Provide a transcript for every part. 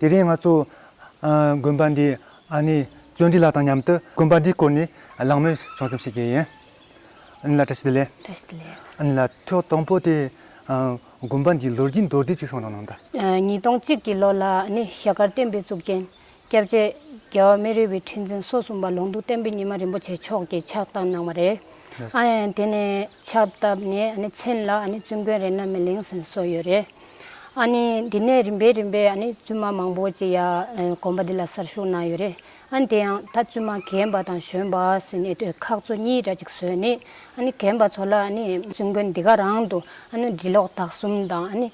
དེ་རིང་ང་ཚོ། དགོན་པ་འདིའི་ཨ་ནེ་བརྩོན་འགྲུས་ལགས་དང་མཉམ་དུ། དགོན་པ་འདིའི་སྐོར་ནས་གླེང་མོལ་བྱུང་ཙམ་ཞིག་གི་ཡིན། ཨ་ནེ་ལགས་བཀྲ་ཤིས་བདེ་ལེགས། བཀྲ་ཤིས་བདེ་ལེགས། ཨ་ནེ་ལགས་ཐོག་དང་པོ་དེ། དགོན་པ་འདིའི་ལོ་རྒྱུས་མདོར་བསྡུས་ཅིག་གསུང་རོགས་གནང་དང། ཉིས་སྟོང་གཅིག་གི་ལོ་ལ་ཨ་ནེ་ཞྭ་དཀར་བསྟན་པའི་གཙུག་རྒྱན། སྐྱབས་རྗེ་རྒྱལ་བ་སྨན་རི་བའི་ཁྲི་འཛིན་སོ་གསུམ་པ་ལུང་རྟོགས་བསྟན་པའི་ཉི་མ་རིན་པོ་ཆེ་མཆོག་གིས་ཕྱག་བཏབ་གནང་བ་རེད། དེ་ནས་ཕྱག་བཏབ་ནས་ཨ་ནེ་མཚན་ལ་ཨ་ནེ་བཙུན་དགོན་རེད་ན་མི་ལེང་ཟིན་སོགས་ཡོད་རེད། འདི་ནས་རིམ་པས་རིམ་པས་བཙུན་མ་མང་པོ་ཅིག་ཡང་གོམ་པ་འདི་ལ་སར་ཞུགས་གནང་ཡོད་རེད། དེ་ཡང་ད་བཙུན་མ་གན་པ་དང་གཞོན་པ་ཟེར་ནས་ཁག་ཚོ་གཉིས་འདྲ་ཅིག་བཟོས་ནས་གན་པ་ཚོ་ལ་བཙུན་དགོན་འདི་ག་རང་དུ་འབྲི་ཀློག་དག་གསུམ་དང།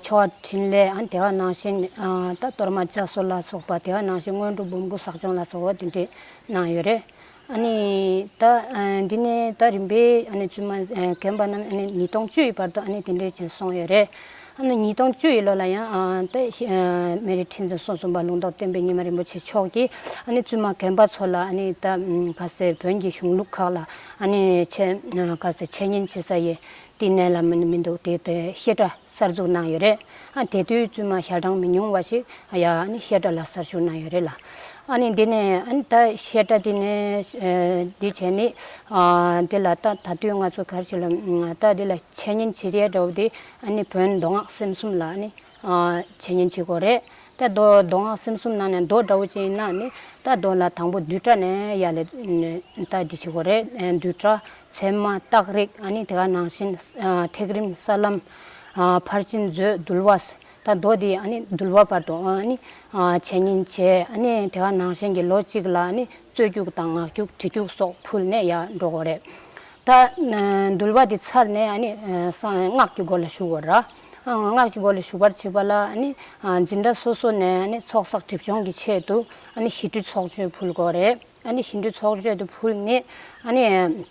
ཆོ་ག་འཕྲིན་ལས་དེ་ག་ནང་བཞིན་ད་གཏོར་མ་བཅའ་གསོ་ལ་སོགས་པ་དེ་ག་ནང་བཞིན་སྔོན་འགྲོ་འབུམ་སྐུ་ཟག་སྦྱོང་ལ་སོགས་དེ་འདྲས་གནང་ཡོད་རེད། ཨ་ནི། ད་འདི་ནས་ད་རིམ་པའི་ཨ་ནི་བཙུན་མ་རྒན་པ་རྣམས་ཨ་ནི་ཉིས་སྟོང་བཅུ་ཡི་བར་དུ་ཨ་ནི་དེ་འདྲའི་བྱིན་སོང་ཡོད་རེད། ཨ་ནི་ཉིས་སྟོང་བཅུ་ཡི་ལོ་ལ་ཡང་ཏཱ་མེ་རི་ཁྲི་འཛིན་སོ་གསུམ་པ་ལུང་རྟོགས་བསྟན་པའི་སྙེ་མ་རིན་པོ་ཆེ་མཆོག་གིས་ཨ་ནི་བཙུན་མ་རྒན་པ་ཚོ་ལ་ཨ་ནི་ད་ག་ཟེ་བོན་གྱི་གཞུང་ལུགས་ཁག་ལ་ཨ་ནི་ཆེད་ག་ཟེ་འཆད་ཉན་བྱེད་ས་ཡི་བསྟི་གནས་ལ་མི་འདུག་དེ་ལྟའི་བཤད་གྲྭ་གསར་འཛུགས་གནང་ཡོད་རེད། དེ་དུས་བཙུན་མ་ཞལ་གྲངས་མི་ཉུང་བ་ཞིག་བཤད་གྲྭ་ལ་གསར་ཞུགས་གནང་ཡོད་རེད་ལ། འདི་ནས་ད་བཤད་གྲྭ་འདི་ནས་འདི་བྱས་ནི། འདི་ལ་ད་ད་དུས་ང་ཚོ་གར་ཞིག་ལ་ད་འདི་ལ་འཆད་ཉན་བྱེད་ཀྱི་ཡ་འདྲ་བོ་འདི། བོན་མདོ་སྔགས་སེམས་གསུམ་ལ་འཆད་ཉན་བྱེད་དགོས་རེད། རྟ་རྡོ་རྡོའང་སེམས་གསུམ་སྣང་ནས་མདོག་འདྲ་བོ་ཅན་སྣང་ནི་རྟ་རྡོ་ལ་དང་པོ་རྡུལ་ཕྲ་ནས་ཡ་ལས་རྟ་འདི་ཞིག་གོ་རེ་རྡུལ་ཕྲ་མཚན་མ་རྟགས་རིག་ནི་དེ་ག་ནང་བཞིན་ཐེག་རིམ་ས་ལམ་ཕར་ཕྱིན་མཛོད་འདུལ་བ་རྟ་རྡོ་འདི་འདུལ་བ་བར་དུ་བྱས་ཉིན་བྱས་ནི་དེ་ག་ནང་བཞིན་གྱི་ལོ་གཅིག་ལ་ནི་རྩོད་རྒྱུགས་དང་ངག་རྒྱུགས་གྲི་རྒྱུགས་སོགས་ཕུལ་ནས་ཡར་འགྲོ་གོ་རེ་རྟ་འདུལ་བ་འདི་ཚར་ནས་སྔགས་ཀྱི་སྒོ་ལ་ཞུགས་གོ་ར། སྔགས་ཀྱི་སྒོ་ལ་ཞུགས་པར་བྱེད་པ་ལ་ནི། སྦྱིན་བདག་སོ་སོ་ནས་ནི་ཚོགས་བསགས་སྒྲིབ་སྦྱོང་གི་ཆེད་དུ། ཞི་ཁྲོའི་ཚོགས་མཆོད་ཕུལ་དགོས་རེད། ཞི་ཁྲོའི་ཚོགས་མཆོད་དུ་ཕུལ་ནས།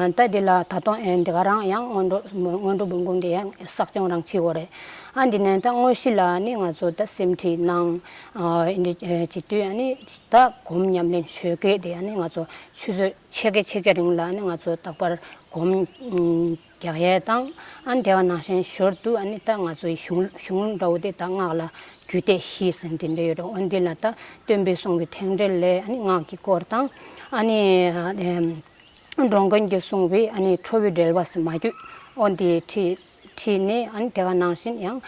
ལྟ་དེ་ལ་ད་དུང་འདི་ག་རང་ཡང་སྔོན་འགྲོ་འབུམ་སྐུང་དེ་ཡང་བསགས་སྦྱོང་རང་བྱེད་དགོས་རེད། འདི་ནས་ད་དངོས་གཞི་ལ་ནི་ང་ཚོ་ད་སེམས་ཁྲིད་གནང། བྱེད་དུས་ནི་ད་སྒོམ་ཉམས་ལེན་ཆོས་སྐད་དེ་ནི་ང་ཚོ་ཆུ་ཚོད་ཕྱེད་ཀ་ཕྱེད་ཀ་རིང་ལ་ནི་ང་ཚོ་རྟག་པར་སྒོམ། རྒྱག་ཡས་དང་ཨ་འདེ་བ་ནང་བཞིན་ཞོར་དུ་ཨ་ནི་ད་ང་ཚོའི་གཞུང་གཞུང་ལུགས་འདྲ་བོ་དེ་ད་སྔགས་ལ་རྒྱུད་སྡེ་བཞི་ཟེར་འདི་འདྲ་ཡོད་རེད་འོ་འདི་ལ་ད་སྟོན་པས་གསུངས་པའི་ཐེངས་འགྲེལ་ལས་ཨ་ནི་སྔགས་ཀྱི་སྐོར་དང་ཨ་ནི་འགྲོ་མགོན་གྱིས་གསུངས་པའི་ཨ་ནི་ཁྲོ་བོའི་འགྲེལ་བ་ཟེར་མ་རྒྱུད་འོ་འདི་ཁྲིད་ཁྲིད་ནས་ཨ་ནི་དེ་ག་ནང་བཞིན་ཡང་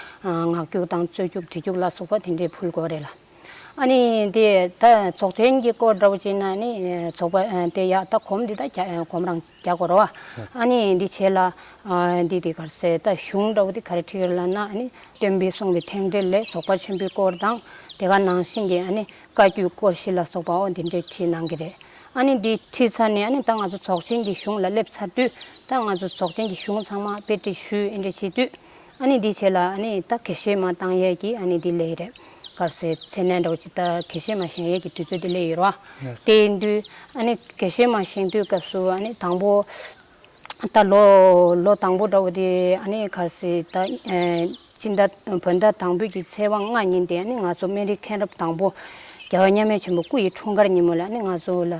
ངག་རྒྱུགས་དང་རྩོད་རྒྱུགས་བྲི་རྒྱུགས་ལ་སོགས་པ་དེ་འདྲའི་ཕུལ་དགོས་རེད་ལ། ཨ་ནི་དེ་ད་རྫོགས་ཆེན་གྱི་སྐོར་འདྲ་བོ་བྱས་ན་ནི་རྫོགས་པ་དེ་ཡག་ད་གོམས་འདི་ད་གོམས་རང། རྒྱ་སྒོར་བ། ཨ་ནི་འདི་བྱས་ལ། འདི་དེ་གར་གསལ་བཏབ་གཞུང་འདྲ་བོ་དེ་གར་ཁྲིད་ལ་ན་ཨ་ནི། སྟོན་པས་གསུངས་པའི་ཐེག་འགྲེལ་ལས་རྫོགས་པ་ཆེན་པོའི་སྐོར་དང། དེ་ག་ནང་བཞིན་གྱི་ཨ་ནི་བཀའ་བརྒྱུད་སྐོར་བཞི་ལ་སོགས་པའོ་འདི་འདྲའི་ཁྲིད་གནང་གི་རེད། ཨ་ནི་འདི་ཁྲིད་ཚར་ནས་ཨ་ནི་ད་ང་ཚོ་ཚོགས་ཆེན་གྱི་གཞུང་ལ་སླེབས་ཚར་དུས། ད་ང་ཚོ་ཚོགས་ཆེན་གྱི་གཞུང་ཚང་མ་དཔེ་ཁྲིད་ཞུས་འབྲེལ་བྱས་དུས། ཨ་ནི་འདི་བྱས་ལ་ཨ་ནི་ད་གེ་ཤེས་མ་བཏང་ཡས་ཀྱི་ཨ་ནི་འདི་ལས་རེད། བར་སེ་ཚེ་ནས་འདྲ་བོ་ཅི་ད་གེ་ཤེས་མ་བཞེངས་ཡས་ཀྱི་དུས་ཚོད་དེ་ལས་ཡོལ་བ། དེ་འདུས་ཨ་ནི་གེ་ཤེས་མ་བཞེངས་དུས་སྐབས་སུ་ཨ་ནི་དང་པོ། ད་ལོ་ལོ་དང་པོ་འདྲ་བོ་དེ་ཨ་ནི་བར་སེ་ད་སྤྱི་ཟླ་བོད་ཟླ་དང་པོད་ཀྱི་ཚེས་བ་ལྔ་ཉིན་དེ་ཨ་ནི་ང་ཚོ་སྨན་རིའི་མཁན་རབས་དང་པོ། རྒྱལ་བ་མཉམ་མེད་ཆེན་པོ་སྐུ་ཡི་འཁྲུངས་སྐར་ཉིན་མོ་ལ་ཨ་ནི་ང་ཚོ་ལ་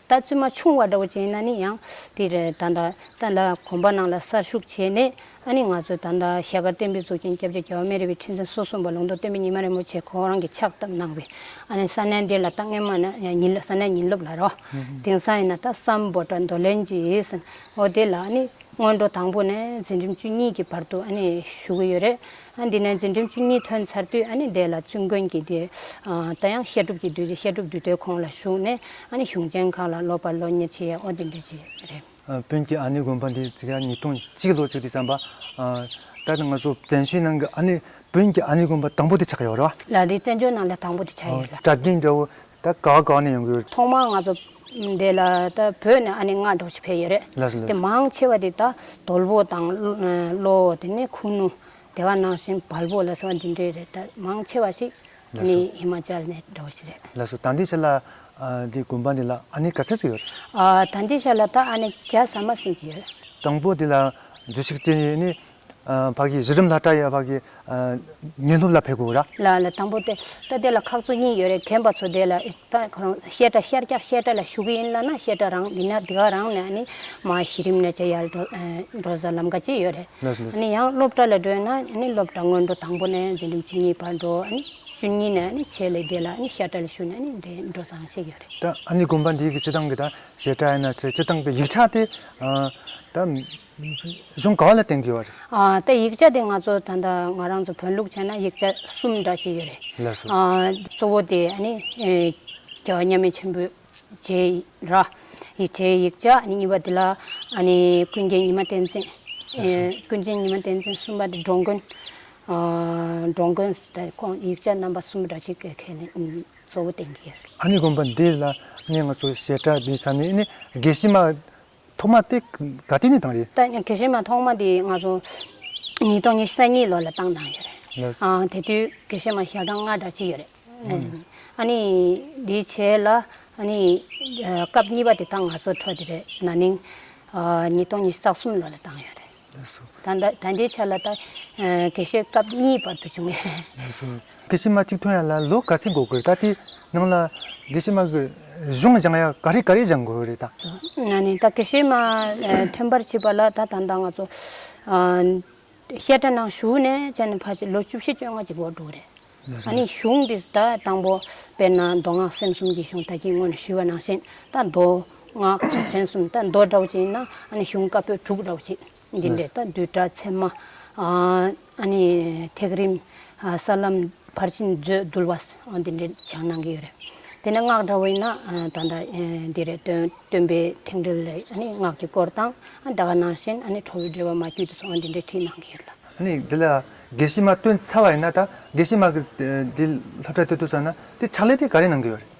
ད་བཙུན་མ་ཆུང་བ་འདྲ་བོ་ཅན་ན་ནི་ཡང་དེ་རེད་ད། ད་ལ་གོམ་པ་ནང་ལ་གསར་ཞུགས་བྱས་ནས་ཨ་ནི་ང་ཚོས་ད་ལྟ་ཞལ་དཀར་བསྟན་འཕེལ་གཙོ་མཁྱེན་སྐྱབས་རྗེ་རྒྱལ་བ་སྨན་རི་བའི་ཁྲི་འཛིན་སོ་གསུམ་པ་ལུང་རྟོགས་བསྟན་འཕེལ་ཉི་མ་རིན་པོ་ཆེ་ཁོང་རང་གིས་ཕྱག་བཏབ་གནང་བའི་ཨ་ནི་ས་གནས་འདིར་ལ་ད་སྔས་མ་ནི་ས་གནས་ཉིན་སློབ་ལ་རོ། དེང་སང་ཡིན་ན་ད་བསམ་བོ་དྲ་མདོ་ལན་གྱི་ཟིན་འོ་དེ་ལ་ཨ་ནི་སྔོན་འགྲོ་དང་པོ་ནས་འཛིན་རིམ་བཅུ་གཉིས་ཀྱི་བར་དུ་ཨ་ནི་བཞུགས་ཀྱི་ཡོད་རེད། འདི་ནས་འཛིན་སྒྲིམ་བཅུ་གཉིས་ཐོན་ཚར་དུས་ཨ་ནི་བདེ་ལ་བཙུན་དགོན་གྱི་འདི་ད་ཡང་བཤད་སྒྲུབ་ཀྱི་དུས་བཤད་སྒྲུབ་འདུས་སྡེ་ཁོང་ལ་ཞུགས་ནས་ཨ་ནི་གཞུང་ཆེན་ཁག་ལ་སློབ་པར་ལོ་གཉེར་བྱེད་ཡས་ཨོ་དེ་འདྲས་བྱས་རེད། བོན་གྱི་ཨ་ནི་དགོན་པ་འདི་འཛིགས་ཡ་ཉིས་སྟོང་གཅིག་ལོ་བཅུ་དུས་བརྩམས་པ། ད་ནི་ང་ཚོ་བཙན་བྱོལ་ནང་གི་ཨ་ནི་བོན་གྱི་ཨ་ནི་དགོན་པ་དང་པོ་དེ་ཆགས་ཡོད་རེད། ལ་དེ་བཙན་བྱོལ་ནང་ལ་དང་པོ་དེ་ཆགས་ཡོད་རེད། གྲྭ་རྒན་དགྲ་བོ་ད་ག་ག་ནས་ཡོང་གི་ཡོད། ཐོག་མར་ང་ཚོ་འདི་ལ་ད་བོད་ནས་ཨ་ནེ་སྔ་དྲོ་ཞིག་ཕེབས་ཡོད་རེད། ལགས་སོ་ལགས་དེ་སོ། མང་ཆེ་བ་དེ་ད་དོལ་པོ་དང་བློ་བོ་དེ་ནས་ཁུ་ནུ་དེ་བ་ནང་བཞིན་བལ་པོ་ལ་སོགས་པ་འདི་འདྲའི་རེད་ད་མང་ཆེ་བ་ཞིག་ཨ་ནེ་ཧི་མ་ཅལ་ནས་འདྲ་བ་ཞིག་རེད། ལགས་སོ་ད་འདི་ཆ་ལ་འདི་དགོན་པ་འདི་ལ་ཨ་ནེ་ག་ཚད་ཚོད་ཡོད་རེད། ཨ་ད་འདི་ཆ་ལ་ད་ཨ་ནེ་བརྒྱ་ཟ་མ་ཟིན་གྱི་ཡོད་རེད། དང་པོ་དེ་ལ་འདུ་ཤེས་སྐྱེ་ནས་ནི་བག་གི་གཞི་རིམ་ལྷ་གྲྭ་ཡི་བག་གི་ཉིན་སློབ་ལ་ཕེབས་དགོས་ར། ལ་ལ་དང་པོ་དེ་ད་དེ་ལ་ཁག་ཚོ་གཉིས་ཡོད་རེད་དྲན་པ་ཚོ་དེ་ལ་ད་ཁོ་རང་བཤད་གྲྭ་ཤར་སྐྱག་བཤད་གྲྭ་ལ་ཞུགས་གི་ཡིན་ལ་ན་བཤད་གྲྭ་རང་མི་ན་དེ་ག་རང་ནས་ཨ་ནི་མ་གཞི་རིམ་ནས་ཇེ་ཡར་འགྲོ་ས་ལམ་ཀ་ཅིག་ཡོད་རེད་ཨ་ནི་ཡང་སློབ་གྲྭ་ལ་འགྲོས་ན་ཨ་ནི་སློབ་གྲྭ་སྔོན་འགྲོ་དང་པོ་ནས་འཛིན་རིམ་བཅུ་གཉིས་བར་འགྲོ་ཨ་ནི་བཅུ་གཉིས་ནས་ཨ་ནི་ཆེད་ལས་དེ་ལ་ཨ་ནི་བཤད་གྲྭ་ལ་ཞུགས་ནས་ཨ་ནི་དེ་འགྲོ་ས་ཞིག་ཡོད་རེད། ད་ཨ་ནི་དགོན་པ་འདིའི་གི་སྤྱི་བཏང་གི་ད་བཤད་གྲྭ་ཡིན་ན་ཆེད་སྤྱི་བཏང་པའི་ཡིག་ཆ་དེ་ད། གཞུང་གང་ལ་བརྟེན་དགོས་བ་རེད། ད་ཡིག་ཆ་དེ་ང་ཚོ་ད་ལྟ་ང་རང་ཚོ་བོན་ལུགས་བྱས་ན་ཡིག་ཆ་གསུམ་འདྲ་ཞིག་ཡོད་རེད། ལེགས་སོ། གཙོ་བོ་དེ་ནི་རྒྱལ་བ་མཉམ་མེད་ཆེན་པོས་བྱས་ཡིག་ར། ཡིག་ཆའི་ཡིག་ཆ་ནི་གཉིས་པ་དེ་ལ་ཀུན་མཁྱེན་ཉི་མ་བསྟན་འཛིན། ཀུན་མཁྱེན་ཉི་མ་བསྟན་འཛིན་གསུམ་པ་དེ་འགྲོ་མགོན། འགྲོ་མགོན་དེ་ཁོང་ཡིག་ཆ་རྣམ་པ་གསུམ་འདྲ་ཞིག་ཁས་ལེན་གཙོ་བོ་བསྟེན་གྱི་ཡོད་རེད། དགོན་པ་འདི་ལ་ནི་ང་ཚོ་བྱེ་བྲག་འདི་ཚང་མས་དགེ་བཤེས་མ་ཐོག་མ་དེ་ག་སྟེ་ནི་བཏང་རེད། ད་གལ་སྲིད་མ་ཐོག་མ་དེ་ང་ཚོ་ཉིས་སྟོང་ཉེར་གསལ་གཉིས་ལོ་ལ་བཏང་བཏང་ཡོད་རེད། ཨང་དེ་དུས་གལ་སྲིད་མ་ཞག་གྲངས་ལྔ་འདྲ་ཅི་ཡོད་རེད། ཨ་ནི་དེ་བྱས་ལ་ཨ་ནི་སྐབས་གཉིས་པ་དེ་དག་ང་ཚོ་འཕྲོ་དེ་རེད་ན་ནིང་ཉིས་སྟོང་ཉེར་གསག་གསུམ་ལོ་ལ་བཏང་ཡོད་རེད། ད་ལྟའི་ཆ་ལ་ད་གེ་ཤེས་སྐབས་གཉིས་བར་དུ་བྱུང་བས་རེད། གེ་ཤེས་མ་གཅིག་ཐོན་ཡག་ལ་ལོ་ག་ཚིག་འགོ་དགོས་རེད་ད་དེ་ནང་ལ་གེ་ཤེས་མ་གི་གཞུང་སྦྱང་ཡག་ག་རེ་ག་རེ་སྦྱང་དགོས་རེད་ད། ན་ནས་ད་གེ་ཤེས་མ་ཐོན་པར་བྱེད་པ་ལ་ད་ད་ལྟ་ང་ཚོ་བཤད་གྲྭ་ནང་ཞུགས་ནས་ཅེ་ནས་ཕར་ཆེར་ལོ་བཅུ་བཞི་བཅོ་ལྔ་གཅིག་འགོར་འདུག་རེད། ད་ནི་གཞུང་འདི་ད་དང་པོ་དཔེར་ན་མདོ་སྔགས་སེམས་གསུམ་གྱི་གཞུང་ད་ཁྱེད་སྔོན་ཞུས་པ་ནང་བཞིན་ད་མདོ་སྔགས་ཀྱི་མཚན་གསུམ་དང་མདོ་སྒྲ་བ་ཅན་ན་གཞུང་བཀའ་པོད་དྲུག་ར་བ་ཅན་འདི་འདྲས་དང་བསྡུས་གྲྭ་ཚད་མ། ཐེག་རིམ། ས་ལམ་ཕར་ཕྱིན་མཛོད་བསྡུ་བ། འདི་འདྲའི་བྱང་གནང་གི་ཡོད་རེད། དེ་ནས་སྔགས་འདྲ་བ་ཡིན་ན་ད་ལྟ་འདི་རེད། སྟོན་པའི་ཐེག་འགྲེལ་ལས་སྔགས་ཀྱི་སྐོར་དང། འདའ་ཀ་ནང་བཞིན་ཁྲོ་བོའི་འགྲེལ་བ་མ་རྒྱུད་དུ་སོང་བ་འདི་འདྲས་བྲིས་གནང་གི་ཡོད་ལ། འདི་ལ་དགེ་བཤེས་མ་སྟོན་ཚར་བ་ཡིན་ན་ད་དགེ་བཤེས་མ་གིས་འདི་ལྷབ་གྲྭ་དེ་བསྡུ་ཚར་ན་དེ་ཕྱག་ལས་དེ་ག་རེ་གནང་གི་ཡོད་རེད།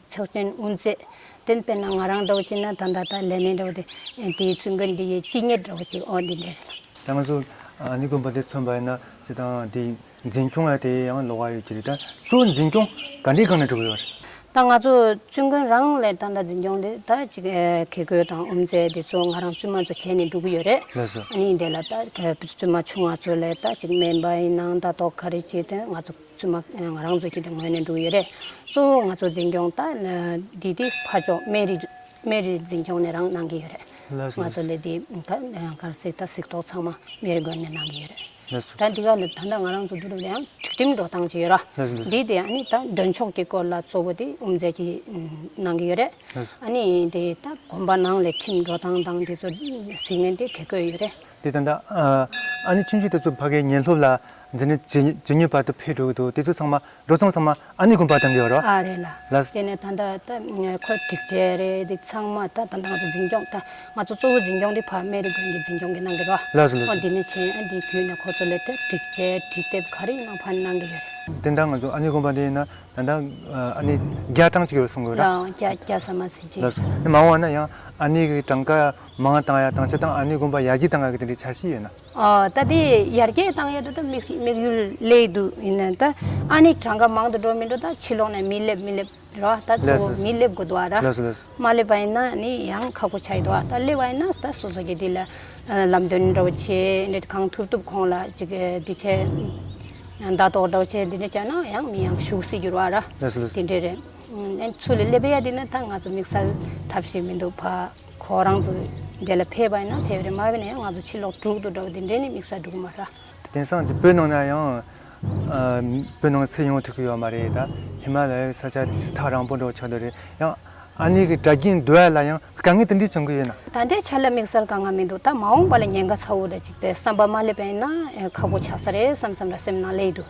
ཚོགས་ཆེན་དབུ་མཛད། དེ་དཔེར་ན་ང་རང་འདྲ་བོ་ཅིག་ན་ད་ད་ད་ལས་མེད་འདྲ་བོ་དེ། དེའི་ཚུལ་འགའ་འདི་ཡི་སྤྱི་གཉེར་འདྲ་བོ་ཅིག་ཨོ་འདི་འདྲས་རེད། ད་ང་ཚོ་ནི་དགོན་པ་འདི་མཚོན་པ་ཡིན་ན་ཅི་དང་དེ་འཛིན་སྐྱོང་ཡ་དེ་ཡང་ལོ་ག་ཡོད་ཀྱི་རེད་ད་ཚོ་འཛིན་སྐྱོང་ག་འདྲའི་སྒང་ན་འགྲོ་གི་ཡོད་རེད། ད་ང་ཚོ་བཙུན་དགོན་རང་ལས་ད་ད་འཛིན་སྐྱོང་འདི་ད་ཅིག་གེ་དགོན་དང་དབུ་མཛད་འདི་ཚོ་ང་རང་བཙུན་མ་ཚོ་བྱས་ནས་འགྲོ་གི་ཡོད་རེད། ལེགས་སོ། ཨ་ནི་འདི་ལ་ད་བཙུན་མ་ཆུང་བ་ཚོ་ལས་ད་ཅིག་མེད་པ་ཡིན་ན་ད་དོག་ག་རེ་བྱས་དོན་ང་ཚོ། བཙུན་མ་ང་རང་ཚོ་ཁྱེད་ཀྱི་ངོས་ནས་འདུག་ཡོད་རེད། གཙོ་བོ་ང་ཚོ་འཛིན་སྐྱོང་ད་འདི་དེ་ཕར་ཕྱོགས་སྨན་རི་སྨན་རི་འཛིན་སྐྱོང་ནས་རང་གནང་གི་ཡོད་རེད། ང་ཚོ་ལས་འདི་ད་གར་གཟིགས་ད་གཟིགས་ཐོག་ཚང་མ་སྨན་རི་དགོན་ནས་གནང་གི་ཡོད་རེད། ད་འདི་ག་ལ་ད་ལྟ་ང་རང་ཚོ་འདུ་རུབ་ལ་ཡང་སྒྲིག་ཁྲིམས་འགྲོ་སྟངས་ཅི་ཡོད་ར། འདི་དེ་ཨ་ནི་ད་འདོན་ཆོག་གི་སྐོར་ལ་གཙོ་བོ་དེ་དབུ་མཛད་ཀྱིས་གནང་གི་ཡོད་རེད། ཨ་ནི་དེ་ད་དགོན་པ་ནང་ལས་ཁྲིམས་འགྲོ་སྟངས་དང་དེ་ཚོ་གཟིགས་ནས་དེ་གེ་བསྐོས་ཡོད་རེད། དེ་ཙམ་དང། ཨ་ནི་ཁྱིམ་གཞིས་དེ་ཚོ་ཕ་གའི་ཉལ་ལྷོབ་ལ་འཛེར་ནས་ཇི་སྙེད་པར་དུ་ཕེབས་འགྲོ་གི་འདུག་དེ་ཚོ་ཚང་མ་འགྲོ་སོང་ཚང་མ་ཨ་ནི་དགོན་པར་དང་གི་ཡོད་རོ། ཨ་རེད་ལ། དེ་ནས་ད་ལྟ་ཁོ་སྒྲིག་ཆས་རེད་འདུག་ཚང་མ་ད་ལྟ་ང་ཚོ་འཛིན་སྐྱོང་ད་ང་ཚོ་གཙོ་བོ་འཛིན་སྐྱོང་འདི་ཕ་མེ་རི་དགོན་གྱི་འཛིན་སྐྱོང་གི་གནང་གི་རོ། ལགས་སོ་ལགས་སོ། འདི་ནས་བྱས་འདི་བརྒྱུད་ནས་ཁོ་ཚོ་ལས་དེ་སྒྲིག་ཆས་བྲིས་དེབ་ག་རེ་ཡིན་ནང་ཕ་ནི་གནང་གི་ཡོད་རེད། དེ་འདྲ་ང་ཚོ་ཨ་ནི་དགོན་པ་འདི་ཡིན་ན་ད་ལྟ་ཨ་ནི་རྒྱ་གྲངས་གཅིག་ཡོད་གསུང་གི་ཡོད་ར། རྒྱ་རྒྱ་ཟ་མ་ཟེར་གྱི་ཡོད། ལགས་སོ། མང་བ་ན་ཡང་ཨ་ནི་གི་གྲངས་ཀ་མ་ང་དང་ཡ་དང་ཆ་དང་ཨ་ནུའི་དགོན་པ་ཡར་རྒྱས་བཏང་ཡག་གི་དེ་འདྲའི་འཆར་གཞི་ཡོད་ན། ད་དེ་ཡར་རྒྱས་བཏང་ཡོད་དུ་ད་མིག་ཤིག་མིག་ཡུལ་ལས་སྡུག་ཡིན་ན་ད་ཨ་ནི་གྲངས་ཀ་མང་དུ་འགྲོ་མི་འགྲོ་ད་ཕྱི་ལོག་ནས་མི་སླེབས་མི་སླེབས་རེད་བ་ད་གཙོ་བོ་མི་སླེབས་དགོས་འདུག་བ་ར་མ་སླེབས་པ་ཡིན་ན་ནི་ཡང་ཁག་པོ་ཆགས་ཡོད་འདུག་བ་ད་སླེབས་པ་ཡིན་ན་ད་སོ་སོ་གི་དེ་ལ་ལམ་སྟོན་འདྲ་བོ་བྱེད་འདྲ་གང་ཐུབ་ཐུབ་ཁོང་ལ་ཅིག་དེ་ཆེ་བརྡ་ཏོག་འདྲ་བོ་བྱེད་འདི་འདྲ་བྱས་ན་ཡང་མི་ཡང་ཞུགས་སྲིད་འགྱུར་བ་ར་དེ་འདྲ་རེད་ཨ་ཚུལ་ལས་སླེབས་ཡ་དེ་ནི་ད་ང་ཚོ་དམིགས་བསལ་ཐབས་ཤེས་མི་འདུག་བ། ཁོ་རང་ཚོ་འདས་ལ་ཕེབས་པ་ཡིན་ན་ཕེབས་རེ་མ་ཕེབས་ནས་ང་ཚོ་ཕྱིར་ལོག་དྲུག་ཏུ་འགྲོ་བ་དེ་འདྲས་ནི་དམིགས་ས་འགྲུག་མ་ར། དེང་སང་དེ་བོད་ནང་ན་ཡང་བོད་ནང་ཚེ་ཡོང་ཐུབ་ཀྱི་ཡོད་མ་རེད་ད་ཧི་མ་ལ་ཡའི་ས་ཆ་དེ་སྲི་ཐག་རང་པོ་འགྲོ་ཆོག་འདོད་རེད་ཡང་ཨ་ནེ་གི་དྲ་རྒྱའི་འདུལ་བ་ལ་ཡང་དཀའ་ངལ་དེ་འདྲས་བྱུང་གི་ཡོད་ན། ད་ལྟའི་ཆར་ལ་དམིགས་སར་དཀའ་ངལ་མི་འདུག་ད་མ་འོངས་པ་ལ་ཉེན་ཁ་ཚ་བོ་འདྲ་གཅིག་པའི་བསམ་པ་མ་སླེབས་པ་ཡིན་ན་ཁག་པོ་ཆགས་ས་རེད་བསམ་བསམ་ར་སེམས་ནང་ལེ་ཡི་འདུག།